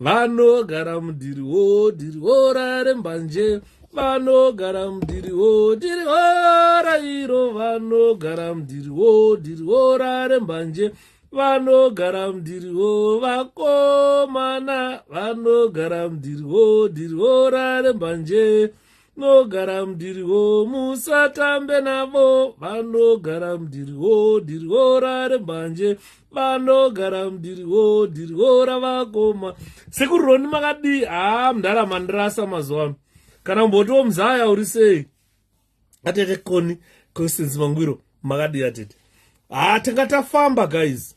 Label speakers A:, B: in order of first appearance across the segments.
A: vanogara mudhiri wo dhiri hora rembanje vanogara mudhiri wo dhiri hora iro vanogara mudhiri wo dhiri hora rembanje vanogara mudhiri wo vakomana vanogara mudhiri wo dhiri hora rembanje nogara mdiriwo musatambe navo vanogara mdiriwo diriwo rare mbanje vanogara mdiriwo diriwo ravakoma sekuru roni makadii haa mdara mandirasa mazuva ano kana umbotiwo mzaya uri sei atete koni constance mangwiro makadii atete haa tanga tafamba guys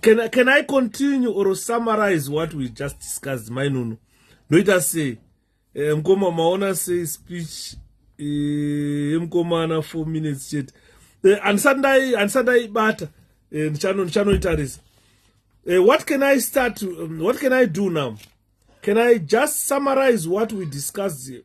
A: can, I, can i continue or summarize what we just discussed mainunu ndoita sei eh, mkoma maona sei speech eh, yemkomana eh, four minutes chete eh, andisati ndaibata eh, ndichanoitarisa eh, eh, what can i start um, what can i do now can i just summarize what we discussed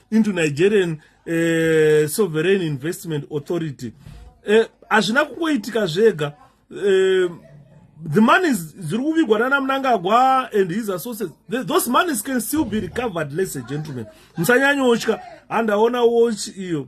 A: into nigerian uh, sovereign investment authority eh, hazvina uh, kungoitika zvega uh, the money ziri kuvigwa nana munangagwa and his associates the, those monies can still be recovered lese gentlemen musanyanyotya handaona watch iyo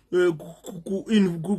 A: eh,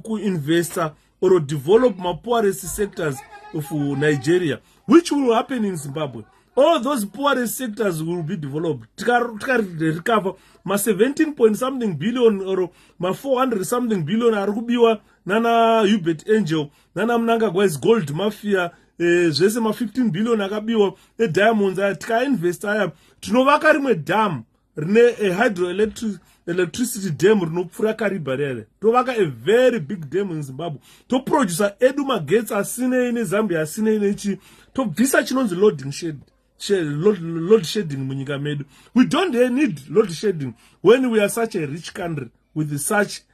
A: kuinvesta or develop mapoorest sectors of nigeria which will happen in zimbabwe all those poorest sectors will be developed tikarecover ma17 point something billion or ma400 something billion ari kubiwa nana hubert angel nana munangagwa is gold mafia eh, zvese ma15 billion akabiwa ediamonds aya tikainvesta aya tinovaka rimwe dam rine a hydroelectric electricity dam rinopfuura kariba rere tovaka a very big dam in zimbabwe toproducer edu magetsi asinei nezambia asinei nechi tobvisa chinonzi loading shed load shedding munyika medu we don't need load shedding when we are such a rich country with such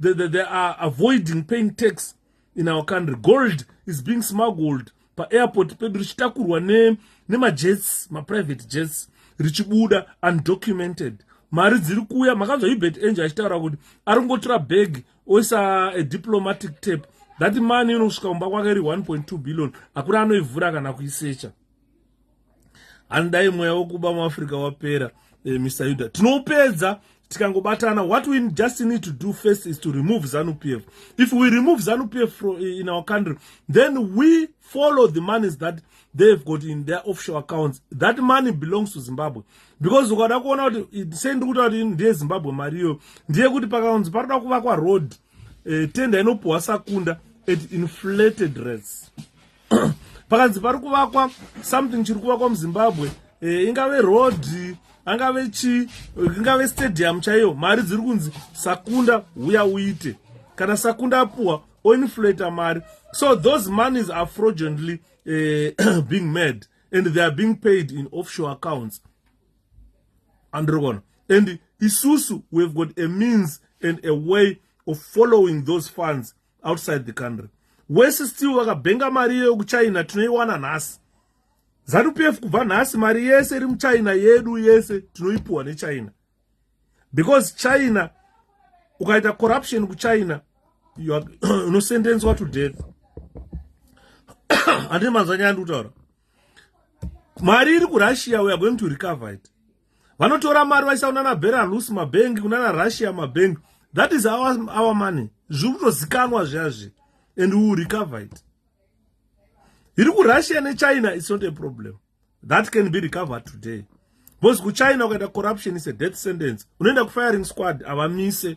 A: they, they, they are avoiding paying tax in our country gold is being smuggled paairport pedu richitakurwa nemajets ne maprivate jets richibuda undocumented mari dziri kuuya makanzwa hubert angel achitaura kuti ari kungotora bag oisa a diplomatic tape that mani inosvika kumba kwake iri 1.2 billion hakuna anoivhura kana kuisecha handidai mweya wokuba muafrica wapera eh, mr yuda tinoupedza tikangobatana what we just need to do first is to remove zanu p f if we remove zanu p f eh, in our country then we follow the monies that they've got in their offshore accounts that money belongs to zimbabwe because ukada kuona kuti sei ndiri kuta kuti ndiye zimbabwe mari iyoyo ndiye kuti pakanzi paroda kuvakwa road eh, tenda inopuhwa sakunda at inflated rates pakanzi pari kuvakwa something chiri kuvakwa muzimbabwe e, ingave road angave chi ingave stadium chaiyo mari dziri kunzi sakunda huya uite kana sakunda apuwa oinflata mari so those monies are fraudulently e, being made and they are being paid in offshore accounts andirikona and isusu we have got a means and a way of following those funds outside the country wese still vakabhenga mari iyoyo kuchina tinoiwana nhasi zanu p f kubva nhasi mari yese iri muchina yedu yese tinoipuwa nechina because china ukaita corruption kuchina unosendenswa to death handii manzwanyaya ndikutaura mari iri kurussia weare going to recover it vanotora mari vaisa kunana belarus mabhengi kunana russia mabhengi that is our, our money zviri kutozikanwa zviazvi and we will recover it iri kurussia nechina its not a problem that can be recovered today because kuchina ukaita corruption is a death sentence unoenda kufiring squad avamise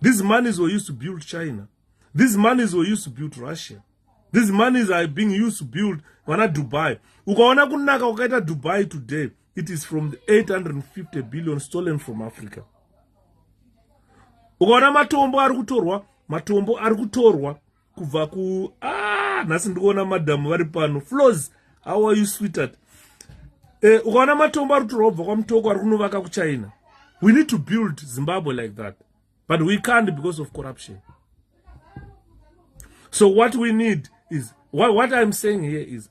A: These monies were used to build China. These monies were used to build Russia. These monies are being used to build vana Dubai. Ukaona kunaka kwakaita Dubai today, it is from the 850 billion stolen from Africa. Ukaona matombo ari kutorwa, matombo ari kutorwa kubva ku ah nhasi ndikuona madhamu vari pano flows how are you sweetheart eh ukaona matombo ari kutorwa kubva kwamutoko ari kunovaka kuchina we need to build zimbabwe like that but we can't because of corruption so what we need is what, what i'm saying here is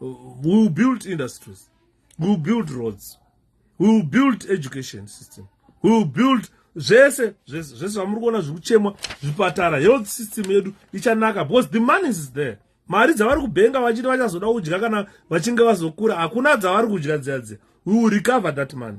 A: we will build industries we will build roads we will build education system we will build zvese zvese zvese zvamuri kuona zviri kuchemwa zvipatara health system yedu ichanaka because the money is there mari dzavari kubenga vachiti vachazoda kudya kana vachinge vazokura hakuna dzavari kudya dziya dziya we will recover that money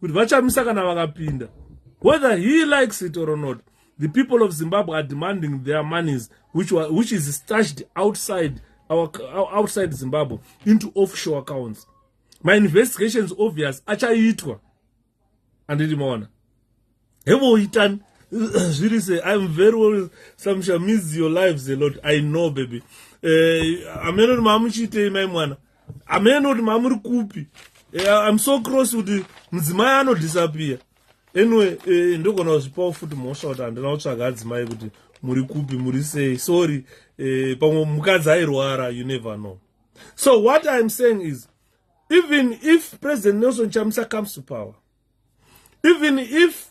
A: kuti vachamisa kana vakapinda whether he likes it or not the people of zimbabwe are demanding their monies which, were, which is stashed outside our, outside zimbabwe into offshore accounts my investigations obvious achaitwa anditi maona hebo itani zviri se im very well samsha miss your lives a lot i know baby eh, ameno kuti mamuchiitei mai mwana ameno kuti mamuri kupi eh, im so cross kuti mudzimai anodhisapiya anyway eh, ndogona kuzvipawo futi mhosva kuti handina kutsvaga adzimai kuti muri kupi muri sei sorry eh, pamwe mukadzi airwara you never know so what im saying is even if president nelson chamisa comes to power even if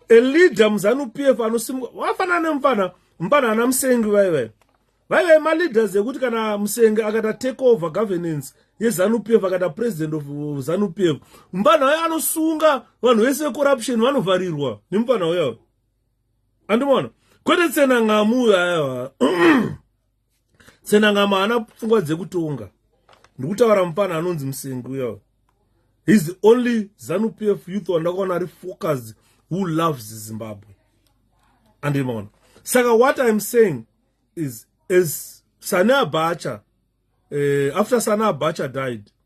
A: a leader muzanu p f anosimuka wafanana nemufana mufana ana musengi vaivayo vaive maleaders ekuti kana musenge akata take over governance yezanup f akata president of zanup f mupfanha wayo anosunga vanhu vese vecorruption vanovharirwa nemupfanha wayo andimona kwete tsena ngamu uyo ayawa senangama haana pfungwa dzekutonga ndikutaura mupana anonzi musengi uya his the only zanu p f youth wandakaona ari focused who loves zimbabwe andimaona saka what iam saying is as sane abacha uh, after sane abacha died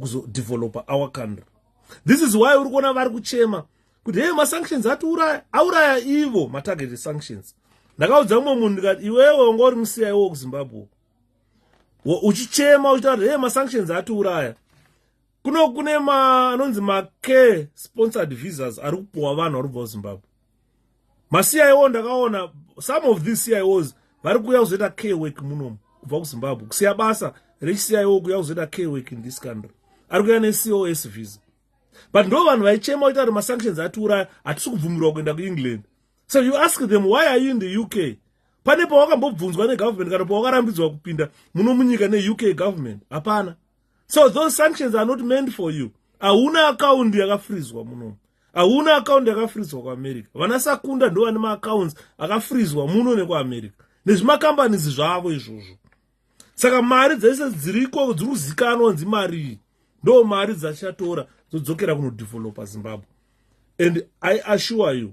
A: kuzodeveloper kuzo our country this is why uri kuona vari kuchema kuti hei masanctions atiuraya auraya ivo matarget sanctions ndakaudza mumwe munhu ndikati iwewe wanga uri musiya iwo kuzimbabwe uchichema uchitaura kuti hei masanctions atiuraya kuno kune ma anonzi macare sponsored visas ari kupuwa vanhu vari kubva kuzimbabwe maciwo ndakaona some of these cios vari kuuya kuzoita care work munomu kubva kuzimbabwe kusiya basa rechicio kuuya kuzoita care work in this country ari kuuya necos visa but ndo vanhu vaichema oita kuti masanctions atiuraya hatisi kubvumirwa kuenda kuengland so you ask them why are you in the uk pane pawakambobvunzwa negovernment kana pawakarambidzwa kupinda muno munyika neuk government hapana so those sanctions are not meant for you hauna akaundi yakafrizwa munomu hauna akaundi yakafrizwa kuamerica vana sakunda ndo vane maaccounts akafrizwa muno nekuamerica nezvimakambanisi zvavo izvozvo saka mari dzese dziriko dziri kuzikanwa nzi marii ndo mari dzachatora dzodzokera kunodevelopa zimbabwe and i assure you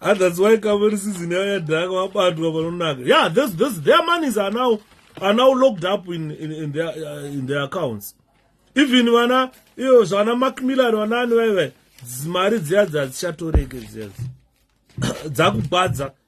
A: and that's why kamuri season yayo yadhaka wabatwa panonaka yeah those, those, their monies are now, are now locked up in, in, in, their, uh, in their accounts even vana iyo zvana macmillan vanaani vaive mari dziya dzadzichatoreke dziya dzakubhadza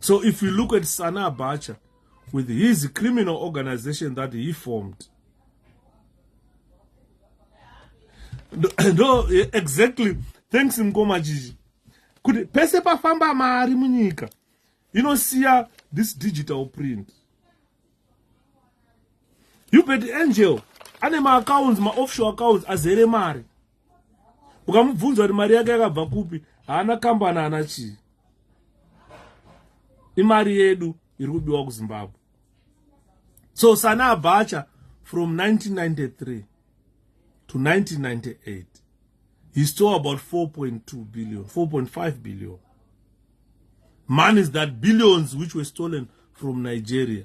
A: So if you look at Sana Abacha with his criminal organization that he formed, no, exactly. Thanks Mkoma Jiji. Kuti pese pafamba mari munyika inosiya this digital print. You bet angel ane maaccounts maoffshore accounts azere mari ukamubvunza kuti mari yake yakabva kupi haana kambani haana chii imari yedu iri kubiwa kuzimbabwe so sana abacha from 1993 to 1998 he stole about 4.2 billion 4.5 billion money is that billions which were stolen from nigeria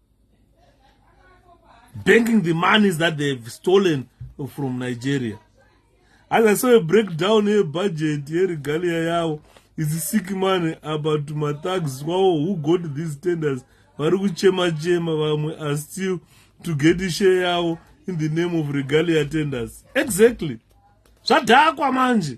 A: banking the monies that they've stolen from nigeria as i saw a breakdown yebudget yeregalia yavo isi sick money about mathags wawo who got these tenders vari kuchema chema vamwe are still to get share yavo in the name of regalia tenders exactly zvadhakwa manje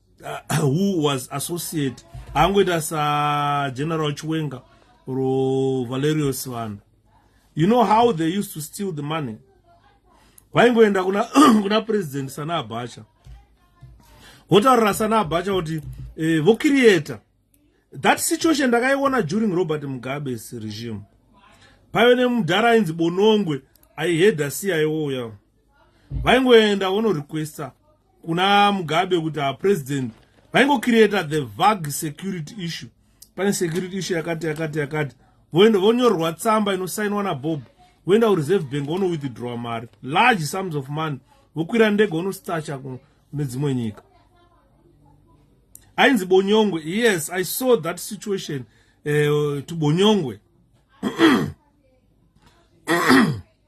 A: uh, who was associate angoita sageneral chiwenga ro valerio sivana you know how they used to steal the money vaingoenda kuna, kuna president sana abacha votaurira sana abacha kuti eh, vokiriyeta that situation ndakaiona during robert mugabes regime paive nemudhara ainzi bonongwe aihedha siya iwoya vaingoenda vonorequesta kuna mugabe kuti a president vaingocreata the vag security issue pane security issue yakati yakati yakati voenda vonyorerwa tsamba inosainwa nabob voenda kureserve bank vonowithdrawa mari large sums of money vokwira ndege vonostacha nedzimwe nyika ainzi bonyongwe yes i saw that situation uh, to bonyongwe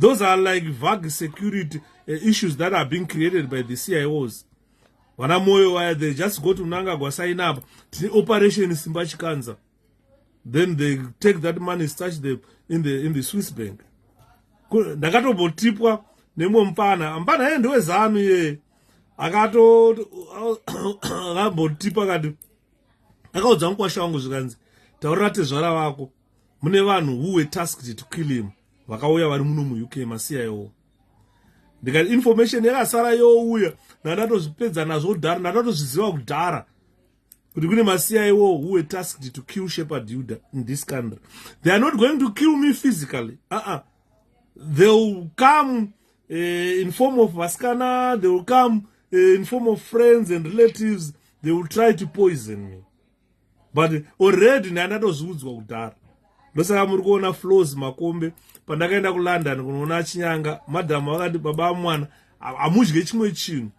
A: those are like vague security uh, issues that are being created by the cios vana moyo waya they just go to mnangagwa sign up tine operation simba chikanza then they take that money starch the, in, the, in the swiss bank ndakatombotipwa nemwe mupana mupana yee ndewezanu yee akato akambotipa kati akaudza mukwasha wangu zvikanzi taurira tezvara vako mune vanhu who were tasked to kill him vakauya vari muno muuk masiyayowo ndikati information yakasara youya ndandatozvipedza nazvo kudhara ndandatozviziva kudhara kuti kune masiya iwo who were tasked to kill shepherd yuda in this country they are not going to kill me physically aa uh -uh. they will come uh, in form of vasikana they will come uh, in form of friends and relatives they will try to poison me but already ndai ndatozviudzwa kudhara ndosaka muri kuona flows makombe pandakaenda kulondon kunoona achinyanga madhamu vakati baba amwana hamudye chimwe chinhu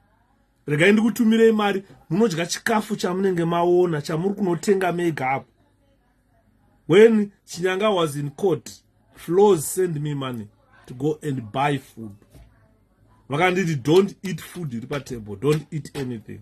A: regai ndikutumirei mari munodya chikafu chamunenge maona chamuri kunotenga mega apo when chinyanga was in court flows send me money to go and buy food vakanditi don't eat food iri patable don't eat anything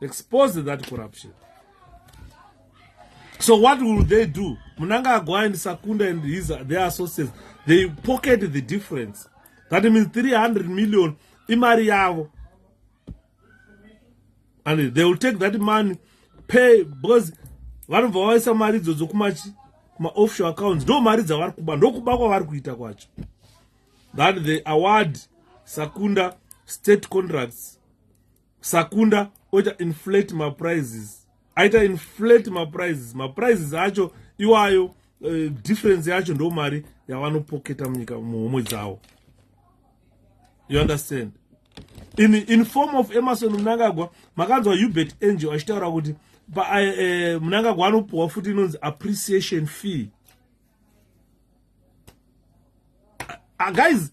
A: expose that corruption so what will they do munangagwa and sakunda and his their associates they pocket the difference that means 300 million imari yavo and they will take that money pay because vanobva vaisa mari idzodzo kumachi maoffshore accounts ndo mari dzavari kuba ndokuba kwavari kuita kwacho that the award sakunda state contracts sakunda oita inflate maprices aita inflate maprices maprices acho iwayo uh, difference yacho ndo mari yavanopoketa munyika muhomwe dzawo you understand in, in form of emerson munangagwa makanzwa hubert angel achitaura kuti uh, uh, munangagwa anopuhwa futi inonzi appreciation fee uh, guys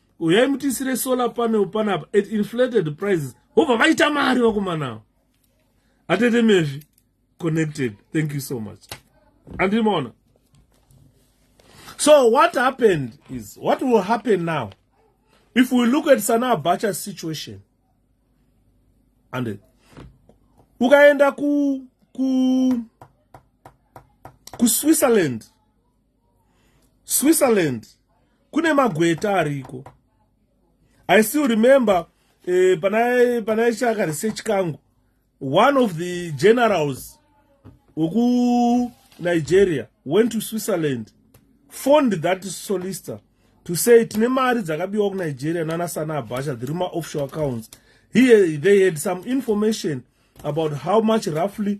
A: uyai mutiisire solar panel panapa at inflated prices hobva vaita mari vakomanawo atete mezvi connected thank you so much andimaona so what happened is what will happen now if we look at sana bacha situation and ukaenda ku ku kuswitzerland switzerland kune magweta ariko i still remember eh, panaichaka research kangu one of the generals wekunigeria went to switzerland fond that solister to say tine mari dzakabiwa kunigeria nana sana abhasha the ruma offshore accounts here they had some information about how much roughly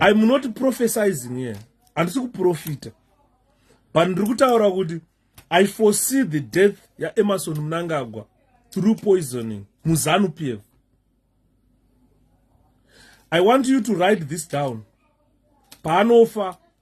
A: I'm not prophesizing here. Handisi kuprofita. But ndiri kutaura kuti I foresee the death yaEmmerson Mnangagwa through poisoning muZanu PF. I want you to write this down. Paanofa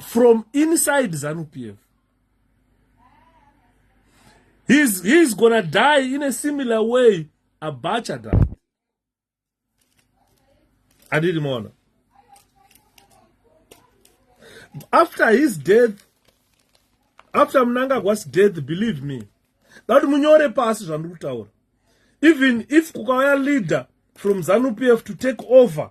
A: from inside zanupf he's, he's gonna die in a similar way abacha died andiri mona after his death after munangagwas death believe me dati munyore pasi zvandiri kutaura even if kukauya leader from zanupf to take over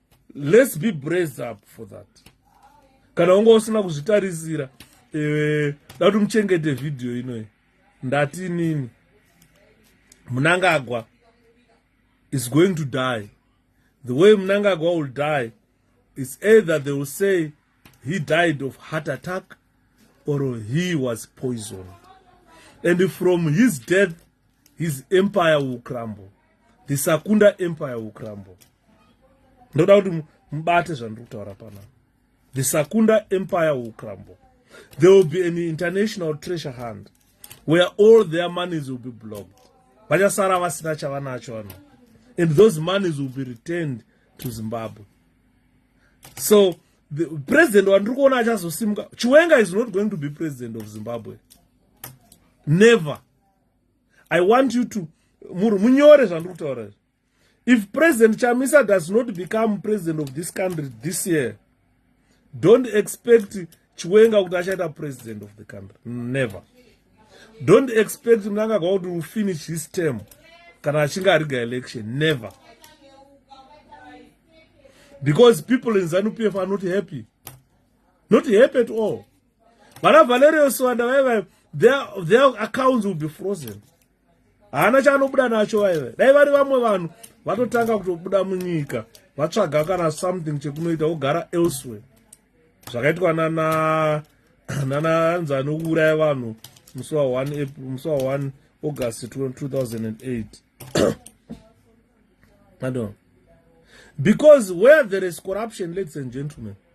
A: let's be braised up for that kana unga usina kuzvitarisira eh, da kuti muchengete vhidhiyo inoyi ndati inini munangagwa is going to die the way munangagwa will die is either they will say he died of heart attack or he was poisoned and from his death his empire will crumble the sakunda empire will crumble ndoda kuti mubate zvandiri kutaura pana the sakunda empire will crumble there will be an international treasure hand where all their monies will be blocked vachasara vasina chavanacho vano and those monies will be returned to zimbabwe so the president wandiri kuona achazosimuka chiwenga is not going to be president of zimbabwe never i want you to muru munyore zvandiri kutaura izvi if president chamisa does not become president of this country this year don't expect chiwenga kuti achaita president of the country never don't expect munangagwa kuti will finish his term kana achinge ariga election never because people in zanupf are not happy not happy at all vana valerio siwanda vaiva their accounts will be frozen haana chaanobuda nacho vaiva dai vari vamwe vanhu vatotanga kutobuda munyika vatsvaga kana something chekunoita vogara elsewhere zvakaitwa nana nana anzi anouraya vanhu musi wa 1 april musi wa 1 august 2008 adon because where there is corruption ladies and gentlemen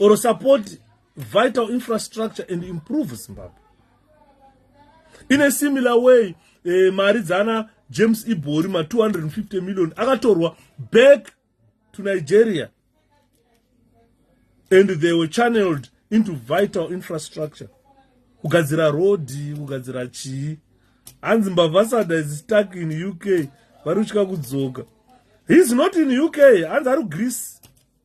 A: or support vital infrastructure and improve zimbabwe in a similar way eh, mari dzana james ibori ma 250 million akatorwa back to nigeria and they were channeled into vital infrastructure kugadzira rodhi kugadzira chii hanzi mbavasada is stuck in uk vari kutya kudzoka heis not in uk hanzi ari kugreece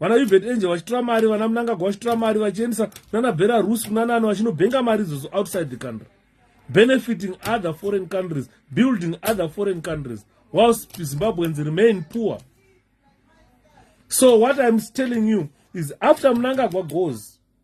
A: vana uvet angel vachitora mari vana munangagwa vachitora mari vachiendisa kunana bera rus kunanani vachinobhenga mari idzodzo outside the country benefiting other foreign countries building other foreign countries whilst zimbabweans remain poor so what iam telling you is after munangagwa goes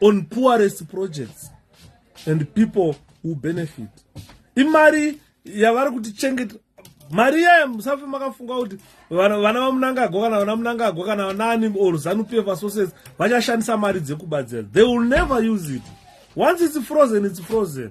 A: on poorest projects and people who benefit imari yavari kuti chengeta mari iyayo musafe makafunga kuti vana vamunangagwa kana vana munangagwa kana vanani or zanupefa sources vachashandisa mari dzekubatsira they will never use it once its frozen its frozen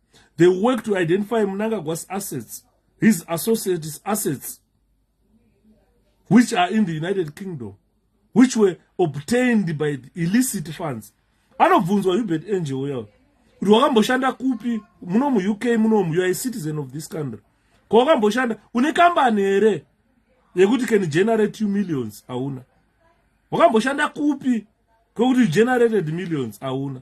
A: they work to identify munangagwa's assets his associates assets which are in the united kingdom which were obtained by illicit funds anobvunzwa hubert angel uya kuti wakamboshanda kupi muno muuk munomu you are a citizen of this country ko wakamboshanda une kambani here yekuti can generate two millions hauna wakamboshanda kupi kwekuti generated millions hauna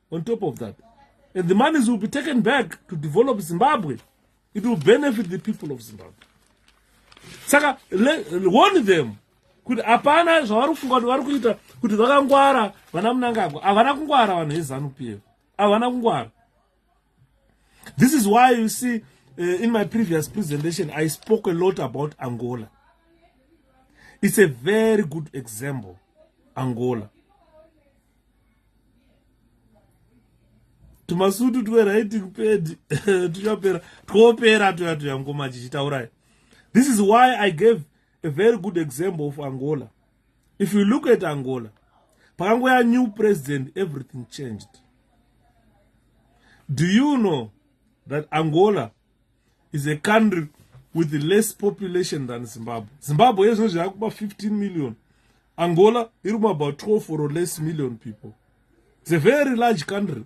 A: on top of that and the monies will be taken back to develop zimbabwe it will benefit the people of zimbabwe saka warn them kuti hapana zvavari kufunga kuti vari kuita kuti vakangwara vana munangagwa havana kungwara vanhu vezanup f havana kungwara this is why you see uh, in my previous presentation i spoke a lot about angola it's a very good example angola tumasutu twerighting pedi tuchapera twopera tuya tuya ngoma chichitaurai this is why i gave a very good example of angola if you look at angola pakangoya new president everything changed do you know that angola is a country with less population than zimbabwe zimbabwe yezvino zvakuba 15 million angola iri kumabout 12 or less million people it's a very large country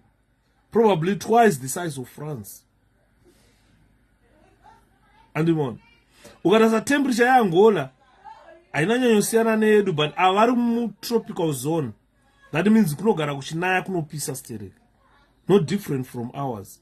A: probably twice the size of france andimona ukarasa temperature yeangola haina nyanyosiyana neyedu but avari mutropical zone that means kunogara kuchinaya kunopisa sterek no different from ours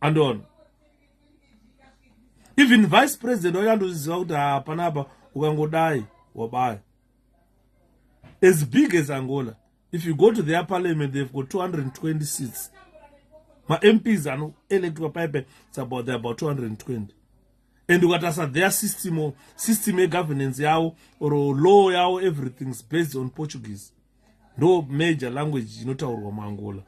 A: andoona even vice president wacho andozviziva kuti hapana apa ukangodai wabaya as big as angola if you go to their parliament they've got 220 seats mamps anoelectwa pipe it's about the about 220 and ukatarisa their system system yegovernance yavo or law yavo everything's based on portuguese ndo major language inotaurwa muangola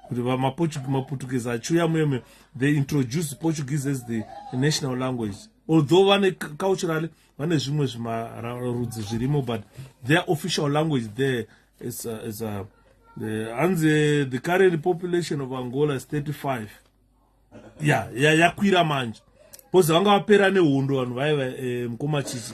A: kuti vamaputukezi achiuya muyome they introduce portuguese as the national language although vane culturally vane zvimwe zvimarudzi zvirimo but their official language there is, uh, is uh, the, hanzi the current population of angola is 35 ya yeah, yakwira yeah, manje bcause vanga vapera nehondo vanhu vaiva eh, mukoma chichi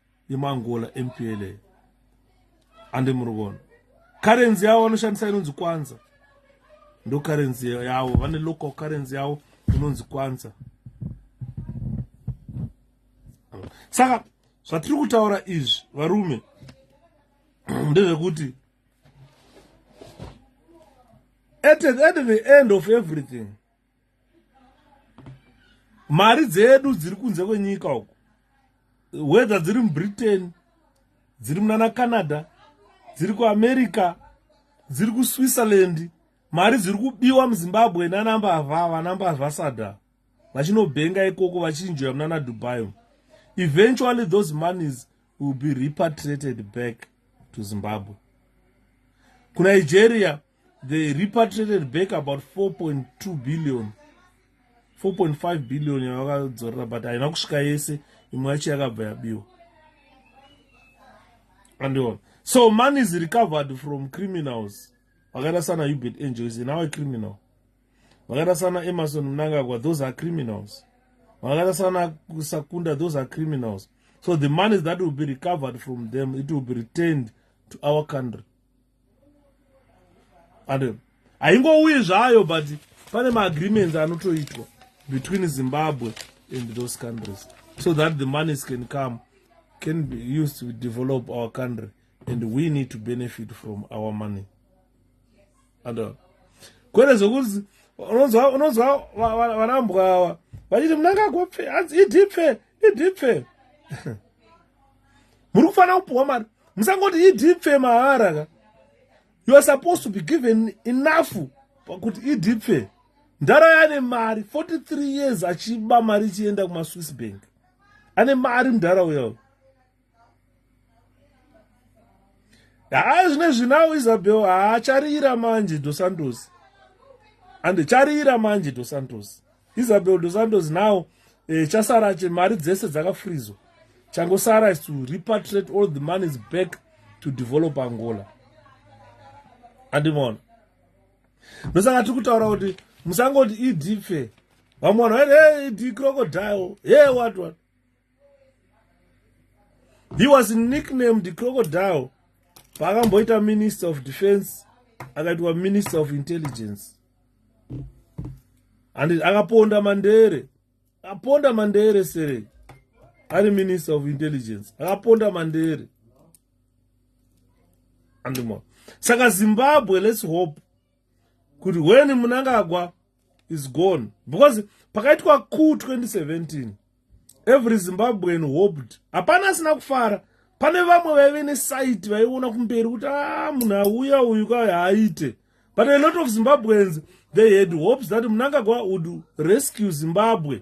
A: yemangola mpla ande muri kuona currency yavo vanoshandisa inonzi kwanza ndo currency yavo vane local currency yavo inonzi kwanza saka zvatiri kutaura izvi varume ndezvekuti at the end of everything mari dzedu dziri kunze kwenyika uku whether dziri mubritain dziri munana canada dziri kuamerica dziri kuswitzerland mari dziri kubiwa muzimbabwe nanambavha vanambavha sada vachinobhenga ikoko vachinjoya munana dubai eventually those monies will be repatriated back to zimbabwe kunigeria they repatriated back about 4.2 billion 4.5 billion yavakadzorera but haina kusvika yese imwe yacho yakabva yabiwa andiona so money is recovered from criminals vakaita sana hubert angel is now a criminal vakaita sana emerson mnangagwa those are criminals vakaita sana sakunda those are criminals so the money that will be recovered from them it will be returned to our country and haingouyi zvayo but pane maagreements anotoitwa between zimbabwe and those countries so that the monies can come can be used to develop our country and we need to benefit from our money and uh, kwete zvokuti unonzwa unonzwa vanambwa awa vachiti munangagopfe hanzi idipfe idipfe muri kufanira kupiwa mari musangoti idipfe mahara ka you are supposed to be given enough pakuti idipfe ndara yane mari 43 years achiba mari ichienda kumaswiss bank ane mari mudhara uyo haa zvine zvinawo isabel haa charira manje dosantos ande charira manje dosantos Isabel dos Santos now eh, chasara che mari dzese dzakafrizwa changosara is to repatriate all the money is back to develop angola andimona ndosaka tiri kutaura kuti musangoti ed fe vamwe vanhu vaiti hey ed crocodile hey what what he was nicknamed crocodile paakamboita minister of defense akaitwa minister of intelligence and akaponda mandere akaponda mandere sere ari minister of intelligence akaponda mandere andimo saka zimbabwe let's hope kuti weni munangagwa is gone because pakaitwa coup 2017 every zimbabwean hoped hapana asina kufara pane vamwe vaive nesaiti vaiona kumberi kuti a ah, munhu auya uyu ka haaite but a lot of zimbabweans they had hopes that munangagwa would rescue zimbabwe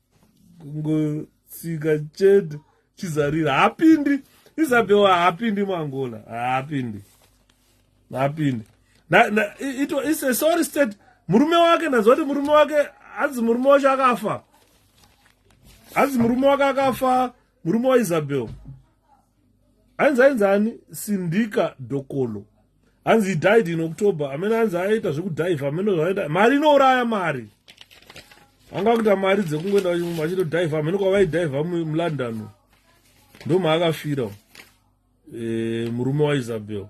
A: kungotsika chete chizarira hapindi isabel haapindi muangola haapindi haapindi its a sorry state murume wake ndanzwa kuti murume wake hanzi murume wacho akafa hanzi murume wake akafa murume waisabel ainzi ainzani sindika dokolo hanzi he died in october amene hanzi aita zvekudhivha amene zvaaita mari inouraya mari anga akuita mari dzekungoenda vachitodhivha amene kwavaidhivha mulondon ndomaakafira eh, murume waisabel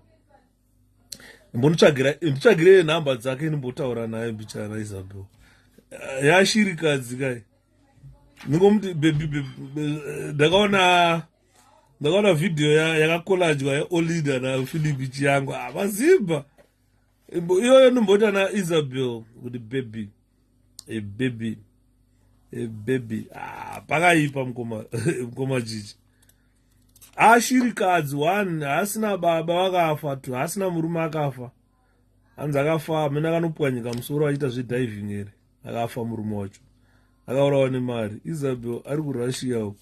A: mbonitsvagirei nhamba dzake ndimbotaura naye bichaya raisabel eh, yashirikadzi kai ndingomuti bebi ndakaona ndakaona vhidhiyo yakakolajwa yeolida nafilipi chiyangu avazimba ah, iyoyo nomboita naisabel kuti bebi ebebi ebebi ah, pakaipa mukoma mukoma chichi ashirikadzi one haasina baba vakafa two haasina murume akafa hanzi akafa amene akanopwanyika musoro achiita zvediving here akafa murume wacho akaurawa nemari isabel ari kurussia uko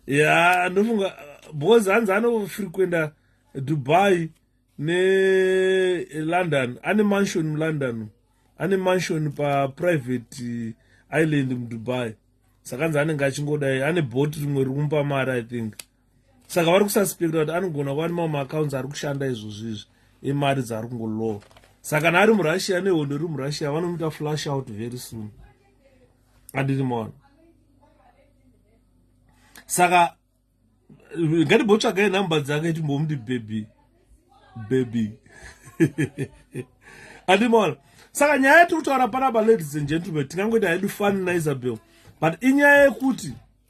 A: ya ndofunga because hanzi anofrequenta dubai nelondon ane mansion mulondon ane mansion paprivate island mudubai saka nzi anenge achingodai ane bot rimwe rikumupa mari i think saka vari kusaspekta kuti anogona kuva nemamwe maaccounts ari kushanda izvozvo izvi emari dzaari kungolowa saka kana ari murussia nehondo iri murussia vanomuita flash out very soon andiri maona saka ngatibhotsvagai number dzake timbomuti baby baby andiri maona saka nyaya yatiri kutaura panapa ladies and gentlemen tingangoita hedu fani naisabel but inyaya yekuti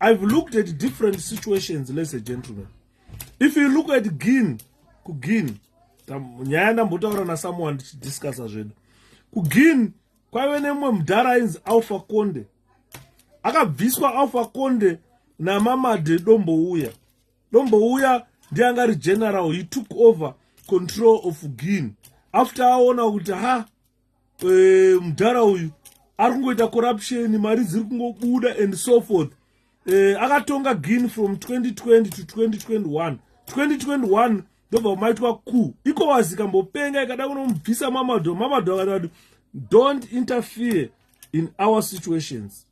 A: I've looked at different situations, ladies and gentlemen. If you look at Gin, kugin, nyaya ndambotaura nasomeone tichidiscussa zvedu. Kugin kwaive nemumwe mudhara ainzi Alpha Konde. Akabviswa Alpha Konde naMamade Dombouya. Dombouya ndiye anga ari general, he took over control of Gin. After aona kuti ha eh, mudhara uyu ari kungoita corruption mari dziri kungobuda and so forth eh, akatonga gin from 2020 to 2021 2021 ndobva maitwa ku iko wazikambopenga ikada kunomubvisa mamado mamado akati don't interfere in our situations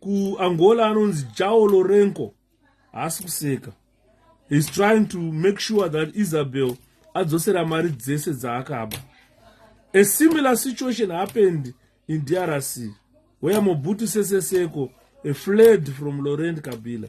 A: kuangola anonzi jao lorenco haasi kuseka heis trying to make sure that isabel adzosera mari dzese dzaakaba a similar situation happened in drc where mobutu seseseko a fled from laurent kabila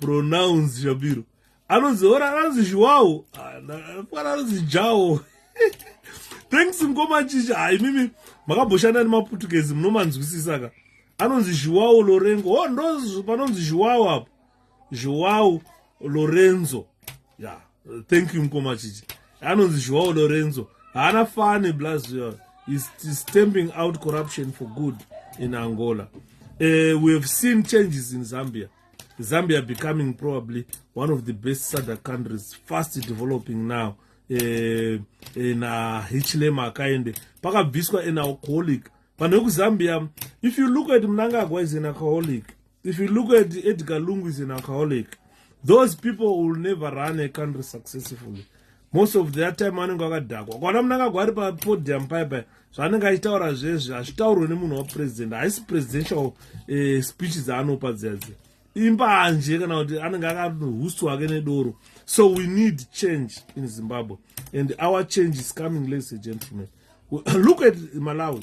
A: pronounce shabiro anonzi ora anonzi zhiwawo fana anonzi jawo thanks mukoma chicha hai mimi makabhoshanda nemaputukezi munomanzwisisa ka anonzi zhiwawo lorengo o oh, ndo panonzi zhiwawo apo zhiwawo lorenzo yeah thank you mkoma chichi anonzi joao lorenzo haana fani blaz is stamping out corruption for good in angola uh, we have seen changes in zambia zambia becoming probably one of the best sadc countries fast developing now eh, eh, na hichlema akaende pakabviswa an alcoholic vanhu vekuzambia if you look at mnangagwa is an alcoholic if you look at edgar lungu is an alcoholic those people will never run a country successfully most of their time anenge akadhakwa kwana munangagwa ari papodium paya paya zvaanenge achitaura zvezvi hazvitaurwe nemunhu wapresident haisi presidential eh, speech dzaanopa dzadzi imbanje kana kuti anenge akahusi wake nedoro so we need change in zimbabwe and our change is coming ladies and gentlemen look at malawi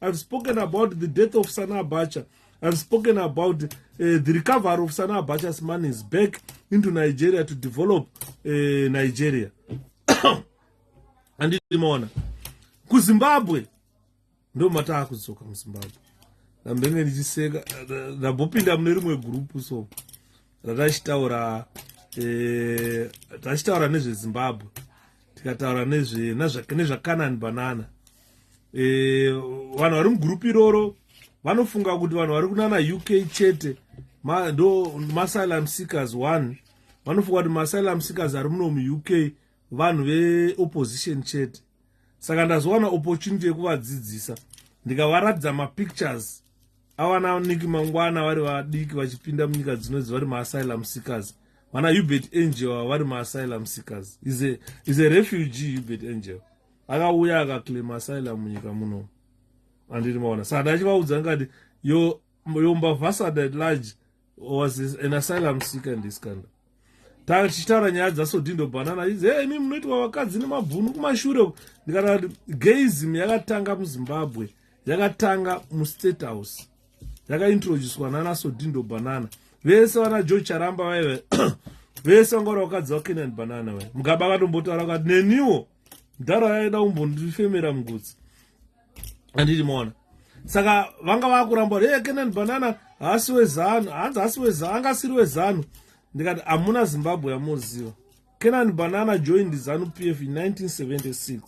A: I've spoken about the death of Sana Abacha. I've spoken about uh, the recovery of Sana Abacha's money is back into Nigeria to develop uh, Nigeria. Anditi maona. KuZimbabwe. Ndo mataa kuzoka muZimbabwe. Ndambenge ndichiseka. Ndambopinda mune rimwe group so. ratachitaura eh, tachitaura nezvezimbabwe tikataura nezvakanani banana eh, vanhu vari mugurupu iroro vanofunga kuti vanhu vari kunana uk chete ndo maasylum seekers one vanofunga kuti maasylum seekers ari muno muuk vanhu veopposition chete saka ndazowana opportunity yekuvadzidzisa ndikavaratidza mapictures awana niki mangwana vari vadiki vachipinda munyika dzinodzi vari maasylum seekers vana hubert angel ava vari maasylum seekers is a, is a refugee hubert angel akauya akaclaim asylum munyika muno andiri maona saka ndachivaudza ngati yo, yo mbavhasada at large was an asylum seeker in this country tanga tichitaura nyaya dzasodindo bhanana izi hey, imi munoitwa vakadzi nemabvunu kumashure uku ndikataura kuti gaism yakatanga muzimbabwe yakatanga mustate house yakaintroducwa nana sodindo banana vese vana george charamba vaive vese vanga vari vakadzi vakenan banana vai mugaba akatombotaura kati neniwo mdhara yaida kumbondifemera mugutsi anditi mona saka vanga vakuramba hey, kenan banana haasi wezanu hanzi haasi wezanu anga asiri wezanu ndikati hamuna zimbabwe yamuziva kenan banana joined zanu p f in 1976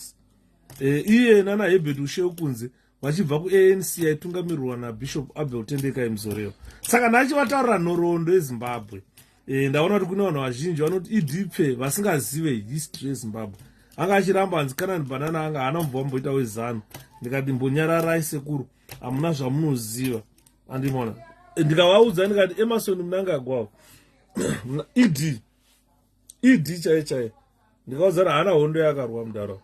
A: e, iye nana hebert usheu kunze vachibva kuanc yaitungamirwa nabishop abel tendeka imzorewa saka ndachivataurira nhoroondo yezimbabwe e, ndaona kuti kune vanhu vazhinji vanoti idipfe vasingazive history yezimbabwe anga achiramba hanzi kanani banana anga haana mubva vamboita wezanu ndikati mbonyararai sekuru hamuna zvamunoziva andimona eh, ndikavaudza ndikati emasoni munangagwavo ed ed chaiye chaiye ndikaudzana haana hondo yakarwa mudaro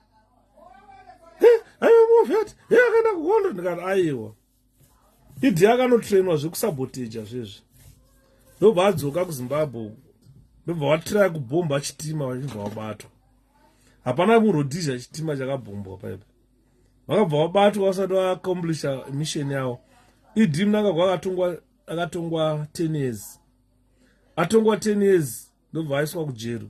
A: aiwa mofyati yakaenda kuhondo ndikati aiwa idi akanotrainwa zvekusaboteja zvezvi ndobva adzoka kuzimbabwe uku ndobva watiraya kubhomba chitima vachibva wabatwa hapana murodhizha chitima chakabhombwa paipa vakabva vabatwa vasati vaacomplisha mission yavo ed mnangagwa akatongwa akatongwa ten years atongwa ten years ndobva aiswa kujeri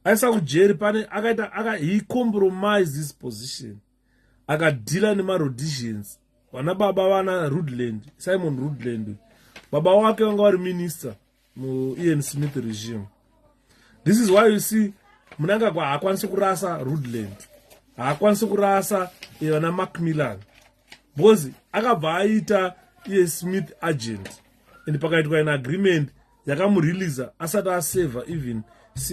A: aisa kujeri pane akaita aka he compromise his position akadhila nemarhodizians vana baba vana rudland simon rudland baba wake vanga vari minister muian smith regime this is why you see munangagwa haakwanisi kurasa rudland haakwanisi kurasa eh, vana macmillan because akabva aita iye smith agent and pakaitwa an agreement yakamureleasa asati aseva even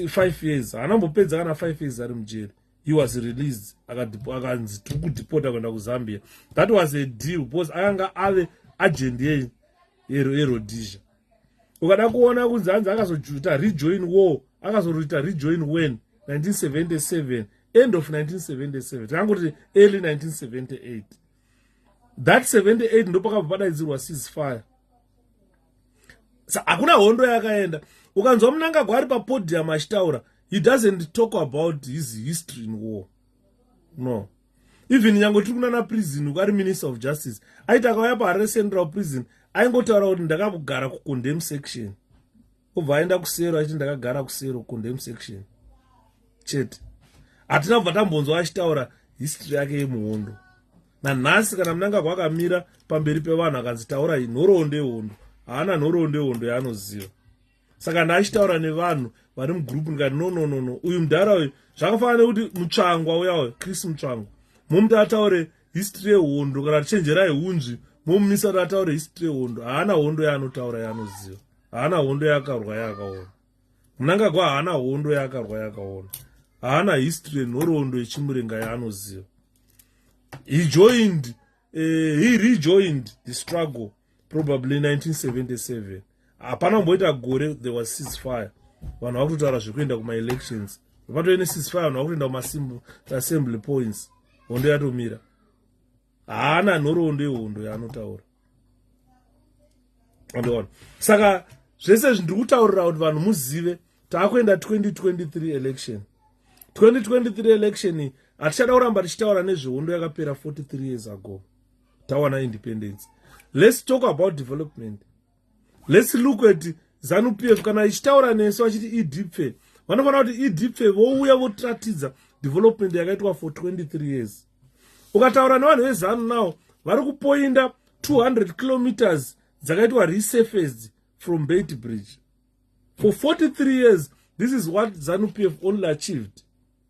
A: five years haana mbopedza kana five years ari mujeri he was released akanzi tiri kudipota kuenda kuzambia that was a deal because akanga ave agent ye yerodisia ukada kuona kunzi hanzi akazojuta rejoin war akazoroita rejoin wen 1977 end of 1977 takangoti early 1978 that 78 ndopakabva padaidzirwa ceasefire hakuna hondo yakaenda ukanzwa munangagwa ari papodium achitaura he doesn't talk about his history in war no even nyange tiri kunana prison uku ari minister of justice aiti akauya paharare central prison aingotaura kuti ndakakugara kucondem section obva aenda kusero achiti ndakagara kusero kucondem section chete hatina kubva tambonzwa achitaura history yake yemuhondo nanhasi kana munangagwa akamira pamberi pevanhu akanzi taura iyi nhoroondo yehondo haana nhoroondo yehondo yaanoziva saka ndaachitaura nevanhu vari mugroupu ndikati no no no no uyu mudhara uyu zvakafanana nekuti mutsvangwa uya uyo chris mutsvangwa momuti ataure history yehondo kana tichenjerai hunzvi momumisa kuti ataure history yehondo haana hondo yaanotaura yaanoziva haana hondo yaakarwa yaakaona munangagwa haana hondo yaakarwa yaakaona haana history yenhoroondo yechimurenga yaanoziva he joined uh, he rejoined the struggle probably 1977 hapana kumboita gore there was ceasefire vanhu vakutotaura zvekuenda kumaelections vatove necisfire vanhu vakutoenda kumaassembly points hondo yatomira haana nhoroondo yehondo yaanotaura andiona saka zvese izvi ndiri kutaurira kuti vanhu muzive taakuenda 2023 election 2023 election hatichada kuramba tichitaura nezvehondo yakapera 43 years ago tawana independence let's talk about development let's look at zanu p f kana ichitaura nesu vachiti edpfe vanofanira kuti edpfe vouya votiratidza development yakaitwa for 23 years ukataura nevanhu vezanu now vari kupoinda 200 kilometers dzakaitwa resurfaced from bait bridge for 43 years this is what zanu p f only achieved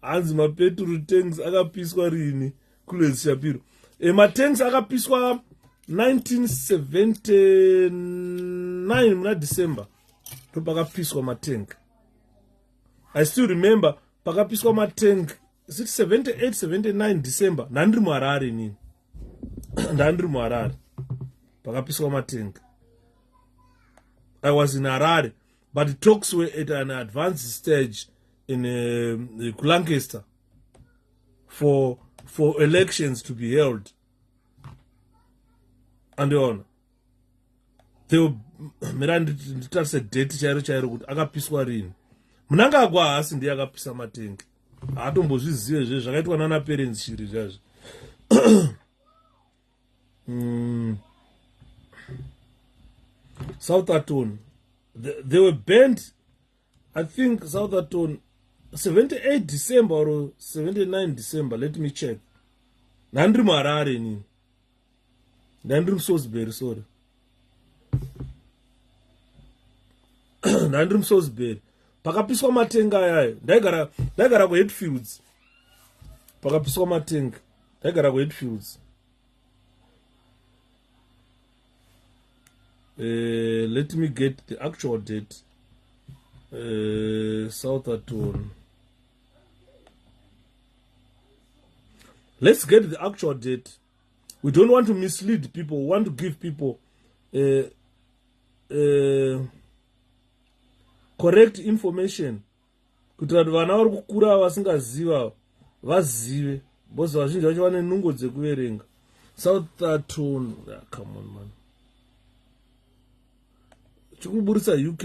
A: hanzi mapeturu tanks akapiswa rini kulwezi shapiro e, eh, matanks akapiswa 1979 muna december ndo pakapiswa matank i still remember pakapiswa matank 7879 december ndandiri muharare inini ndandiri muharare pakapiswa matank i was in harare but the talks were at an advanced stage in uh, kulancaster for for elections to be held andiona theo mira nditarise date chairo chairo kuti akapiswa rini munangagwa haasi ndiye akapisa matengi haatombozvizive zve zvakaitwa nana parents shiri zvazvo mm. south aton they, they were banned i think south aton 78 december or 79 december let me check ndandiri muharare inini ndandiri musosbury sorry ndandiri musosberi pakapiswa matenga ayayo ndaigara ndaigara kuhetfields pakapiswa matenga ndaigara kuhetfields uh, eh, let me get the actual date uh, eh, southerton let's get the actual date we don't want to mislead people we want to give people uh, uh, correct information kuti vanhu vana vari kukura vasingaziva vazive bcause vazhinji vacho vane nungo dzekuverenga south aton ah, come on man chikuburitsa uk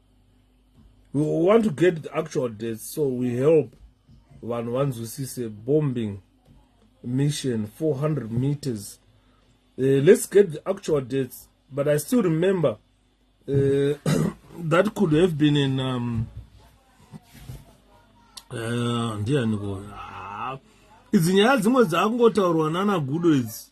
A: we want to get the actual dates so we help vanhu vanzwisise bombing mission 400 meters uh, let's get the actual dates but i still remember uh, that could have been in um, uh, ndiyaniko ah, idzi nyaya dzimwe dzaakungotaurwa nana gudo idzi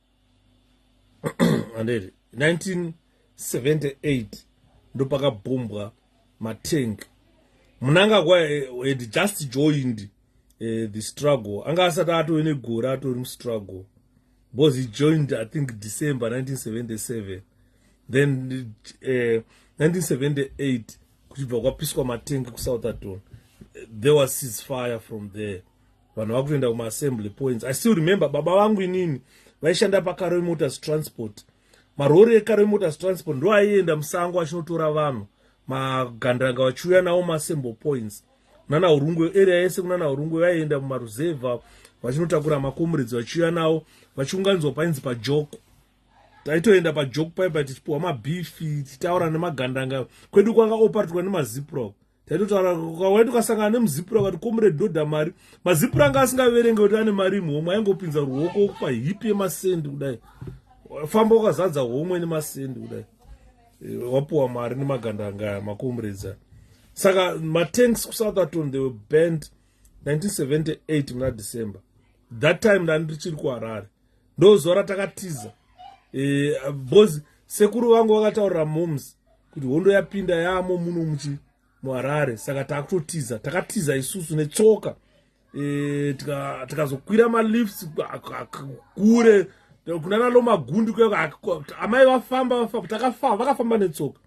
A: andiri 1978 ndopakabhumbwa matank munangagwa eh, had just joined uh, the struggle anga asati atove negore atori mustruggle because he joined i think december 1977 then uh, eh, 1978 kuchibva kwapiswa matengi kusouth aton there was sis fire from there vanhu vakutoenda kumaassembly points i still remember baba vangu inini vaishanda pakaroi motors transport marori ekaroi motors transport ndo aienda musango achinotora vanhu magandanga vachiuya nawo maassembly points nana urungwe area yese kunana urungwe vaienda mumaruzevha vachinotakura makomuridzi vachiuya nawo vachiunganidzwa painzi pajoko taitoenda pajoko paipa tichipiwa mabifi tichitaura nemagandanga kwedu kwanga oparitwa nemaziprop taitotaura kawai tukasangana nemuzipura vati komure dhodha mari mazipura anga asingaverenge kuti ane mari muhomwe aingopinza ruoko okupa hipi yemasendi kudai famba ukazadza homwe nemasendi kudai eh, wapuwa mari nemaganda angaya makomuredzana saka matanks kusouth aton they were band 1978 muna december that time ndandiri chiri kuharare ndozuva ratakatiza eh, bcoz sekuru vangu vakataurira moms kuti hondo yapinda yaamo muno muchi muharare saka takutotiza takatiza isusu netsoka eh, tikazokwira malifts kure kunana lomagundi kuamai vafamba vafamba takafamba vakafamba netsoka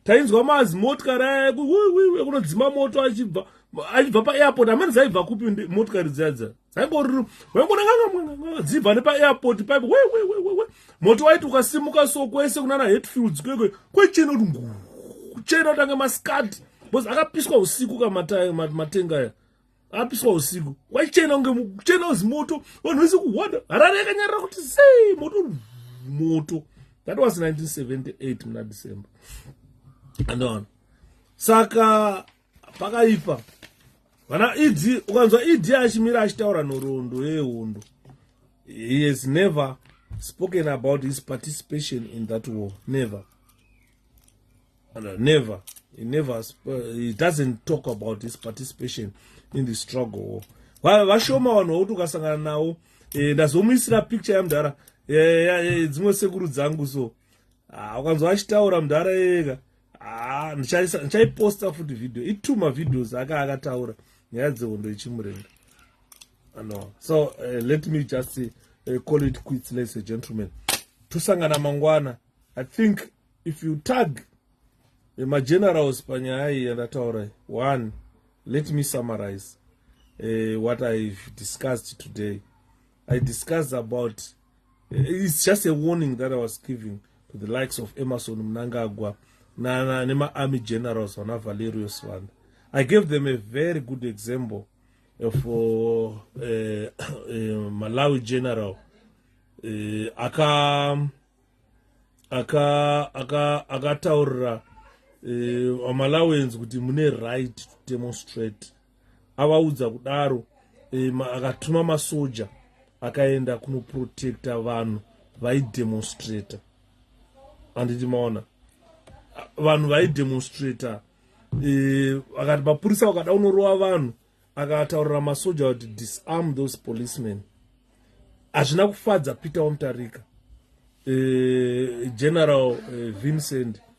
A: tainzwa mazi motikari aya ekunodzima moto achibva achibva paairport amani zaibva kupi motikari dzadza aingoruru waingonanga dzibva nepaairport paipo wewewewewe moti waiti ukasimuka so kwese kunana hetfields kwekwe kwechena kuti ngu kuchena utange maskati bcause akapiswa usiku ka matenga aya apiswa usiku waichena kunge kuchena uzi moto vanhu vese kuhwada harare yakanyarira kuti sei moto moto that was 1978 muna december andoona saka pakaipa vana ed ukanzwa ed achimira achitaura nhoroondo yehondo he has never spoken about his participation in that war never never he never he doesn't talk about his participation in the struggle war vashoma vanhu vakuti ukasangana nawo eh, ndazomuisira picture yamudhara eh, eh, dzimwe sekuru dzangu so ah, ukanzwa achitaura mudhara yeka haa ah, ndichaiposta futi video itwo mavideos aka akataura nyaya dzehondo ichimurenda no so uh, let me just uh, call it quits ladies and gentlemen tosangana mangwana i think if you tag eh, magenerals panyaya iyi yandataura one let me summarize uh, what i've discussed today i discussed about It's just a warning that I was giving to the likes of Emerson Mnangagwa na, na nema army generals vana Valerio Swana. I gave them a very good example of uh, uh, uh, Malawi general uh, aka aka aka akataurira uh, Malawians kuti mune right to demonstrate avaudza kudaro e, ma, akatuma masoja akaenda kunoprotecta vanhu vaidemonstrata anditi maona vanhu vaidemonstrata e, akati mapurisa wakada unorova vanhu akataurira masoja kuti disarm those policemen hazvina kufadza peter wamutarika e, general e, vincent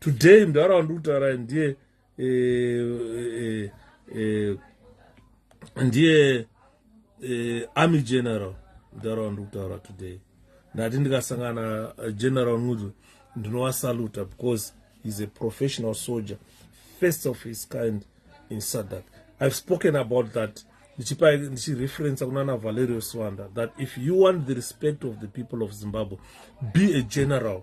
A: today mdara wandikutaura ndiye eh, eh, eh, ndiye eh, army general mdara wandikutaura today ndati ndikasangana eh, general ngudzo ndinowasaluta because he's a professional soldier first of his kind in sadak i've spoken about that ndichipa ndichireferensa kuna na valerio swanda that if you want the respect of the people of zimbabwe be a general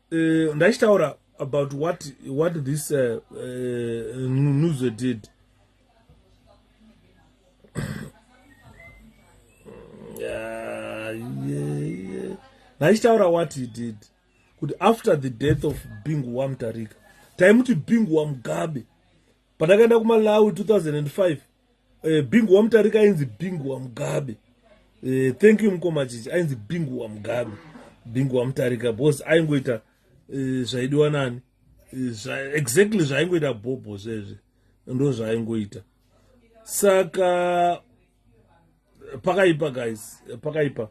A: uh, ndaichitaura about what, what this uh, uh, nuzo did ndaichitaura uh, yeah, yeah. what he did kuti after the death of bingu wamutarika taimuti bingu wamugabe pandakaenda kumalawi 2005 eh, bingu wamutarika ainzi bingu wamugabe eh, thank you mukoma chichi ainzi bingu wamugabe bingu wamutarika bcause aingoita eh, zvaidiwa nani eh, exactly zvaaingoita bhobho zvezve ndo zvaaingoita saka pakaipa guys pakaipa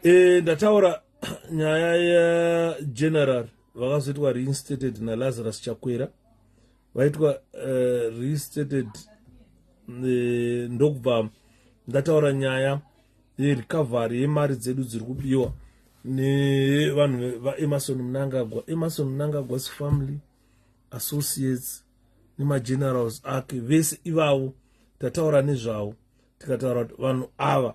A: e, ndataura nyaya yageneral vakazoitwa reinstated nalazarus chakwera vaitwa uh, restated uh, ndokubva ndataura nyaya yerecovery yemari dzedu dziri kubiwa nevanhu vaemarson munangagwa emarson munangagwas family associates nemagenerals ake vese ivavo tataura nezvavo tikataura kuti vanhu ava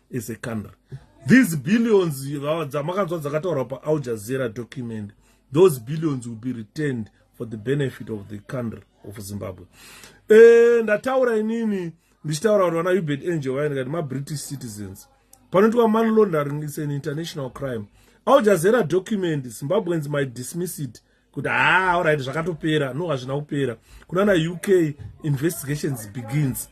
A: as a country these billions dzamakanzwa dzakataurwa paal jazeera document those billions will be returned for the benefit of the country of zimbabwe e, ndataura inini ndichitaura kuti vana ubert angel vaine kati mabritish citizens panoitwa money laundering is an international crime al jazeera document zimbabweans might dismiss it kuti haa ah, orit zvakatopera no hazvina kupera kunana uk investigations begins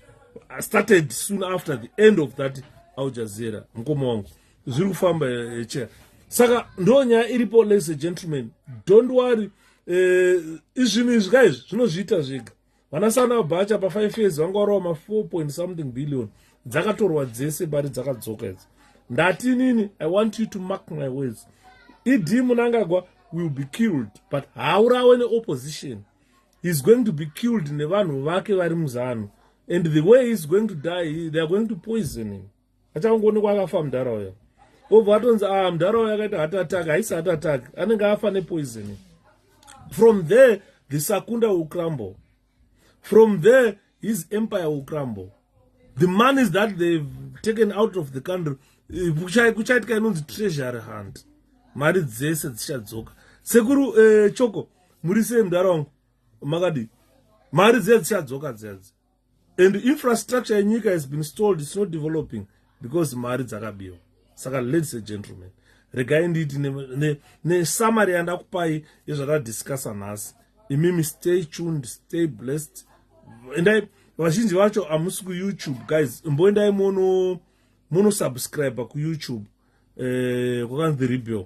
A: started soon after the end of that aljazera mukoma wangu zviri kufamba echa eh, eh, saka ndo nyaya iripo ladies and gentlemen don't worry eh, izvinhu izvi kaizvi zvinozviita zvega vanasana bhacha pafive years vanga varova ma4 point something billion dzakatorwa dzese mari dzakadzoka idzi ndati nini i want you to mark my words ed munangagwa will be killed but haurawe neopposition heis going to be killed nevanhu vake vari muzanu and the way heis going to die they are going to poison him achangoonekwa akafa mudhara uyo obva atonzi ah mudhara uyo akaita hat attack haisi hat attack anenge afa nepoisoni from there the sakunda will crumble from there his empire will crumble the monies that they've taken out of the country eh, kuchaitika inonzi treasury hunt mari dzese dzichadzoka sekuru eh, choko muri sei mudhara wangu makadii mari dziya dzichadzoka dziyadzi and infrastructure yenyika has been stalled its not developing because mari dzakabiwa saka ladies and gentlemen regai ndiiti nesamary ne, ne yandakupai yezvatadiscussa nhasi imimi stay tuned stay blessed endai vazhinji vacho hamusi kuyoutube guys imboendai mono monosubscribe kuyoutube eh, kwakanzi rebel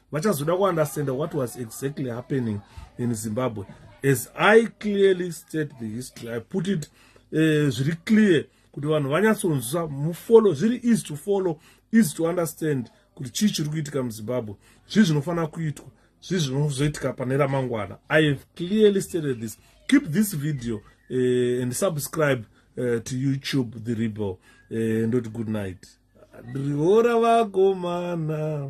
A: vachazoda kuunderstanda what was exactly happening in zimbabwe as i clearly state the history i put it eh, zviri uh, clear kuti vanhu vanyatsonzwa mufollow zviri easy to follow easy to understand kuti chii chiri kuitika muzimbabwe zvii zvinofanira kuitwa zvii zvinozoitika pane ramangwana i have clearly stated this keep this video uh, and subscribe uh, to youtube the rebel uh, ndoti good night riora vakomana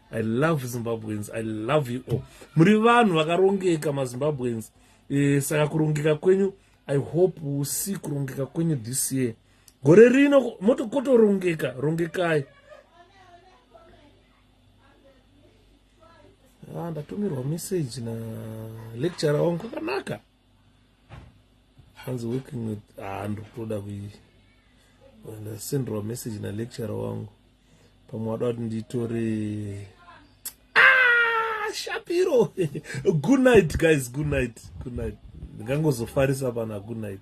A: i love zimbabweans i love you all muri vanhu vakarongeka mazimbabweans e, saka kurongeka kwenyu i hope usi kurongeka kwenyu this year gore rino motokotorongeka rongekai ah, ndatumirwa message na lecture wangu kwakanaka hanzi working with haa ah, ndikutoda kusenderwa message nalecturer wangu pamwe wada kuti nditore ah, shapiro good night guys good night good night ndingangozofarisa pana good night